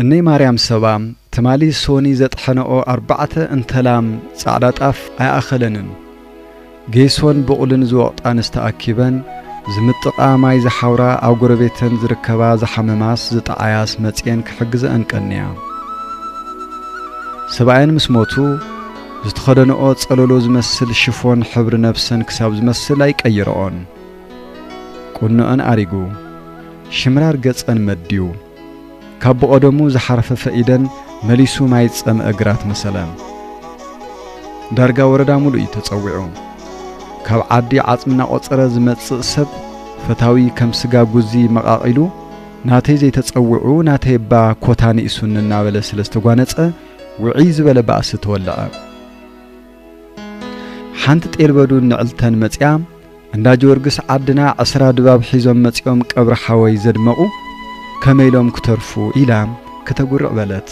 እነይ ማርያም ሰባ ትማሊ ሶኒ ዘጥሐነኦ ኣርባዕተ እንተላም ጻዕዳ ጣፍ ኣይኣኸለንን። ጌሶን ብቑልን ዝወቕጣንስ ተኣኪበን ዝምጥቓ ማይ ዝሓውራ ኣብ ጎረቤተን ዝርከባ ዝሓመማስ ዝጠዓያስ መጽየን ክሕግዘኣን ቀንያ። ሰብኣየን ምስ ሞቱ ዝተኸደነኦ ጸለሎ ዝመስል ሽፎን ሕብሪ ነብሰን ክሳብ ዝመስል ኣይቀይረኦን። ቁኖኣን ኣሪጉ ሽምራር ገጸን መድዩ ካብ ብቐደሙ ዝሓርፈፈ ኢደን መሊሱ ማይ ዝጸምአ ግራት መሰለ። ዳርጋ ወረዳ ሙሉእ እዩ ተጸዊዑ። ካብ ዓዲ ዓጽሚ እናቖጸረ ዝመጽእ ሰብ ፈታዊ ከም ስጋ ጉዚ መቓቒሉ ናተይ ዘይተጸውዑ ናተይ እባ ኮታ ንኢሱኒ እናበለ ስለ ዝተጓነጸ ውዕይ ዝበለ ባእሲ ተወለዐ። ሓንቲ ጤል በዱን ንዕልተን መጽያ እንዳ ጀወርግስ ዓድና ዕስራ ድባብ ሒዞም መጺኦም ቀብሪ ሓወይ ዘድመቑ ከመይ ኢሎም ክተርፉ ኢላ ክተጉርዕ በለት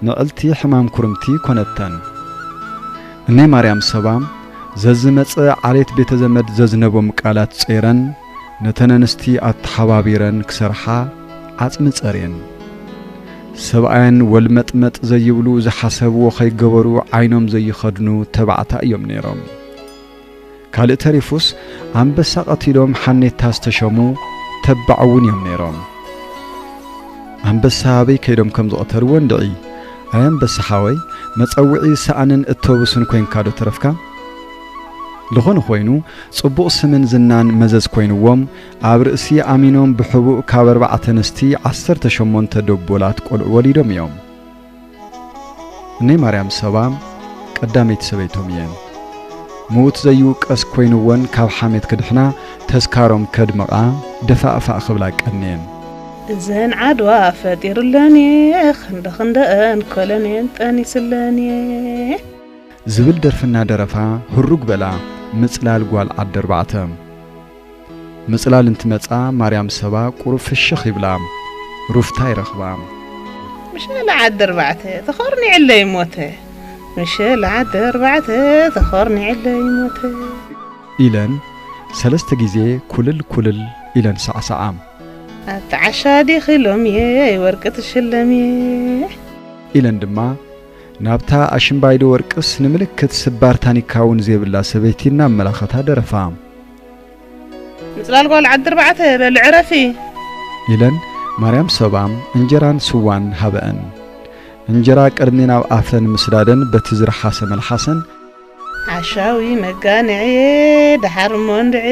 ንዕልቲ ሕማም ኩርምቲ ኮነተን እነይ ማርያም ሰባ ዘዝመጸ ዓሌት ቤተ ዘመድ ዘዝነቦም ቃላት ጸይረን ነተን ኣንስቲ ኣተሓባቢረን ክሰርሓ ዓጽሚ ጸርየን። ሰብኣየን ወልመጥመጥ ዘይብሉ ዝሓሰብዎ ከይገበሩ ዓይኖም ዘይኸድኑ ተባዕታይ እዮም ነይሮም። ካልእ ተሪፉስ ኣንበሳ ቀቲሎም ሓኔታ ዝተሸሙ ተባዕ እውን እዮም ነይሮም። ኣንበሳ ኣበይ ከይዶም ከም ዝቐተልዎ እንድዒ ኣይ ኣንበሳ ሓወይ መጸውዒ ሳእንን እቶብስን ኮይንካዶ ተረፍካ? ዝኾነ ኾይኑ ጽቡቕ ስምን ዝናን መዘዝ ኮይንዎም ኣብ ርእሲ ኣሚኖም ብሕቡእ ካብ ኣርባዕተ ኣንስቲ ዓሰርተ ሸሞንተ ደቦላት ቆልዑ ወሊዶም እዮም። እነይ ማርያም ሰባ ቀዳመይቲ ሰበይቶም እየን። ምዉት ዘይውቀስ ኮይንወን ካብ ሓሜት ክድሕና ተስካሮም ከድምቓ ደፋእፋእ ክብላ ቀንየን። እዘን ዓድዋ ፈጢሩለን እየ ክንደኽንደኣን ኮለኔል ጠኒሱለን እየ። ዝብል ደርፊ እናደረፋ ህሩግ በላ ምጽላል ጓል ዓዲ ኣርባዕተ። ምጽላል እንትመጻ ማርያም ሰባ ቁሩብ ፍሽኽ ይብላ ሩፍታ ይረኽባ። ምሸላ ዓዲ ኣርባዕተ ተኾርኒዕለይ ሞተ ምሸላ ዓዲ ኣርባዕተ ተኾርኒዕለይ ሞተ። ኢለን ሰለስተ ግዜ ኩልል ኩልል ኢለን ሳዕሳዓ። ኣቲ ዓሻ ዲኺ ሎምየ ወርቂ ትሽለምየ። ኢለን ድማ ናብታ ኣሽምባይዶ ወርቅስ ንምልክት ስባር ታኒካ እውን ዘይብላ ሰበይቲ እናመላኸታ ደረፋ። ምፅላል ጓል ዓዲ ኣርባዕተ በሊ ዕረፊ! ኢለን ማርያም ሰባ እንጀራን ስዋን ሃበኣን። እንጀራ ቅድሚ ናብ ኣፈን ምስዳደን በቲ ዝረሓሰ መልሓሰን፣ ዓሻዊ መጋንዔ ደሓር እሞ እንድዔ።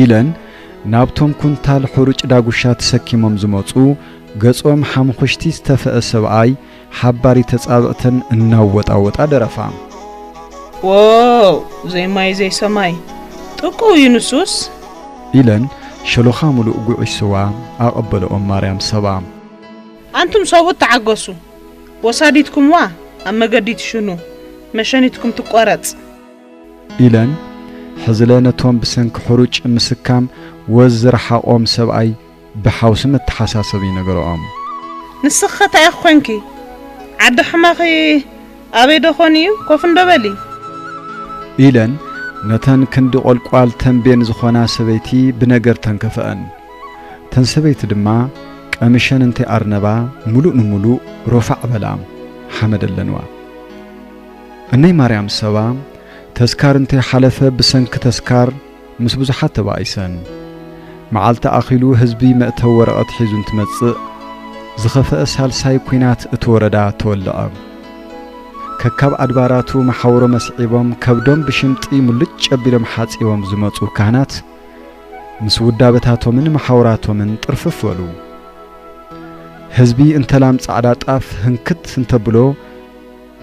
ኢለን ናብቶም ኩንታል ሑሩጭ ዳጉሻ ተሰኪሞም ዝመጹ ገጾም ሓሙኹሽቲ ዝተፈኧ ሰብኣይ ሓባሪ ተጻብእተን እናወጣወጣ ደረፋ። ዎው ዘይ ማይ ዘይ ሰማይ ጥቁው እዩ ንሱስ። ኢለን ሸሎኻ ምሉእ ጉዕሽ ስዋ ኣቐበለኦም ማርያም ሰባ። ኣንቱም ሰብኡት ተዓገሱ። ወሳዲትኩምዋ ኣብ መገዲ ትሽኑ መሸኒትኩም ትቆረጽ። ኢለን ሕዝለ ነቶም ብሰንኪ ሕሩጭ ምስካም ወዝ ዝረሓቖም ሰብኣይ ብሓውሲ መተሓሳሰቢ ይነገረኦም። ንስኺኸ ታይ ኢኺ ኮንኪ ዓዲ ሕማኺ ኣበይ ዶ ኾን እዩ ኮፍ እንዶ በሊ። ኢለን ነተን ክንዲ ቆልቋል ተምቤን ዝኾና ሰበይቲ ብነገር ተንከፈኣን። እተን ሰበይቲ ድማ ቀሚሸን እንተ ኣርነባ ምሉእ ንምሉእ ሮፋዕ በላ ሓመድ ኣለንዋ። እነይ ማርያም ሰባ ተስካር እንተ ሓለፈ ብሰንኪ ተስካር ምስ ብዙሓት ተባኢሰን መዓልቲ ኣኺሉ ህዝቢ መእተዊ ወረቐት ሒዙ እንትመጽእ ዝኸፈኣ ሳልሳይ ኩናት እቲ ወረዳ ተወልዐ። ከካብ ኣድባራቱ መሓውሮም ኣስዒቦም ከብዶም ብሽምጢ ሙልጭ ኣቢሎም ሓጺቦም ዝመጹ ካህናት ምስ ውዳበታቶምን መሓውራቶምን ጥርፍፍ በሉ። ህዝቢ እንተላም ጻዕዳ ጣፍ ህንክት እንተብሎ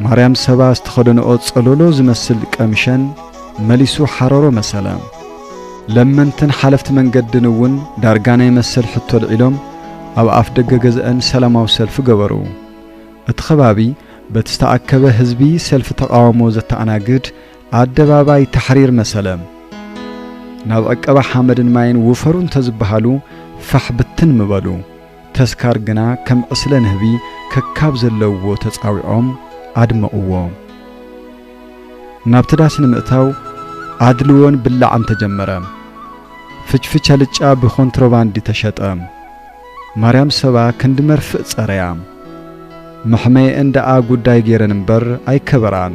ማርያም ሰባ ዝተኸደንኦ ጸሎሎ ዝመስል ቀምሸን መሊሱ ሓረሮ መሰለ። ለመንትን ሓለፍቲ መንገድን እውን ዳርጋ ናይ መሰል ሕቶ ኣልዒሎም ኣብ ኣፍ ደገ ገዝኣን ሰላማዊ ሰልፊ ገበሩ። እቲ ከባቢ በቲ ዝተኣከበ ህዝቢ ሰልፊ ተቓውሞ ዘተኣናግድ ኣደባባይ ታሕሪር መሰለም ናብ ዕቀባ ሓመድን ማይን ውፈሩ እንተዝበሃሉ ፋሕ ብትን ምበሉ። ተስካር ግና ከም ዕስለ ንህቢ ከካብ ዘለውዎ ተጻዊዖም ኣድመቕዎ። ናብቲ ዳስ ንምእታው ኣድልዎን ብላዕን ተጀመረ። ፍችፍች ኣልጫ ብኮንትሮባንዲ ተሸጠ። ማርያም ሰባ ክንዲ መርፍእ ጸረያ። መሕመየኤን ደኣ ጉዳይ ገይረን እምበር ኣይከበራን።